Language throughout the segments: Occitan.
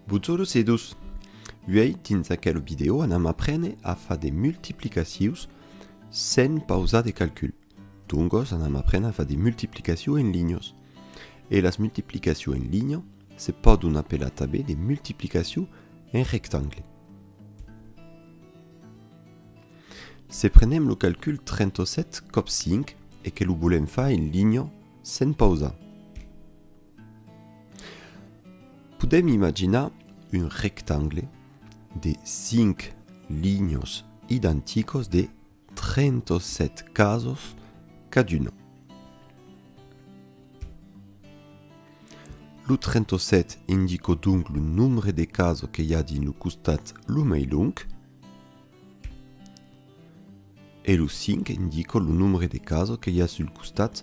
Bonjour a todos! Uèi dins aquela vidèo anam aprene a far de multiplicacions sens pausar de calcul. Doncos anam aprene a far de multiplicacions en linhas. E las multiplicacions en linha se pòdon apelar tanben de multiplicacions en rectangle. Se prenem lo calcul 37 còp 5 e que lo volèm far en linha sens pausar. Podèm imaginar un rectangle de 5 linhos identicos de 37 casos caduna. Lo 37 indico donc lo nombre de casos que i a dins lo costat lo mai long e lo 5 indico lo nombre de casos que i a sul costat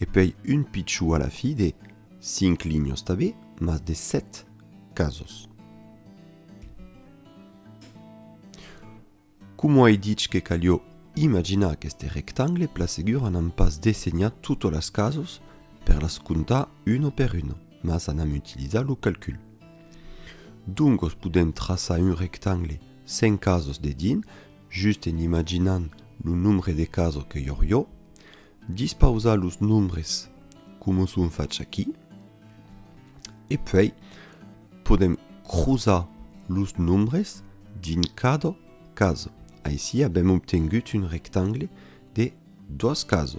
E pei un pichou a la fi de cinc linhos tabé, mas de sèt casos. Coma ai dich que calió imaginar aqueste rectangle pla segura n'am pas dessenhat totes las casos per las comptar una per una, mas anam utilizar lo calcul. Doncos podem traçar un rectangle sen casos dedins Just en imaginant lo nombre de caso que Yorio, dispausar los nombres coma son fach aquí, e puèi podem crosar los nombres dins cada caso. Aicí avèm obtengut un rectangle de dos caso.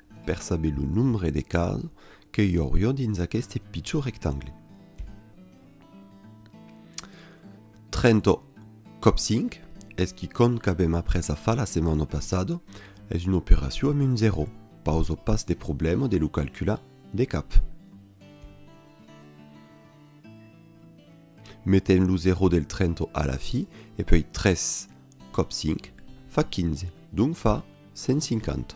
Per saber lo nombre de cas que i aurió dins aqueste pichon rectangle. 30 còp 5 es qui cont qu'avèm après a far la setmana passada, es una operacion amb un 0, pausa pas de problèma de lo calcular de cap. Metem lo 0 del 30 a la fi e puèi 3 Còp cinc fa quinze, donc fa cent cinquanta.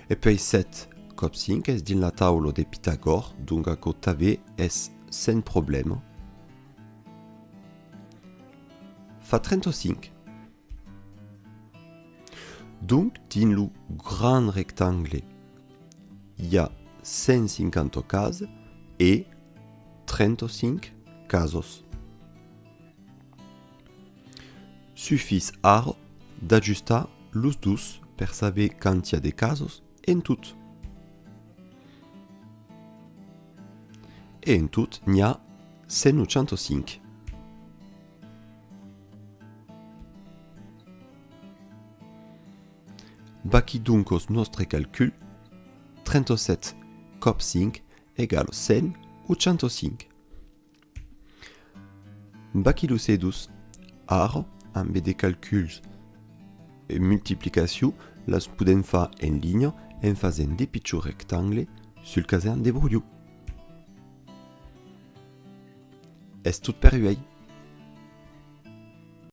E puèi sèt còp cinc es dins la taula de Pitagòr, donc aquò tanben es sens problèma. Fa trenta-cinc. Donc dins lo grand rectangle i a cent cinquanta cases e trenta-cinc casos. Sufís ara d'ajustar los dos per saber quand i a de casos en tot. E en tot n'i a 185. Vaquí donc os nòstre calcul, 37 còp 5 egal 185. Bacillus edus, Ara, ambe de calculs e multiplicaciu las podèm far en linha en fasent de pichons rectangles sul casern de Broiu. Es tot per uèi!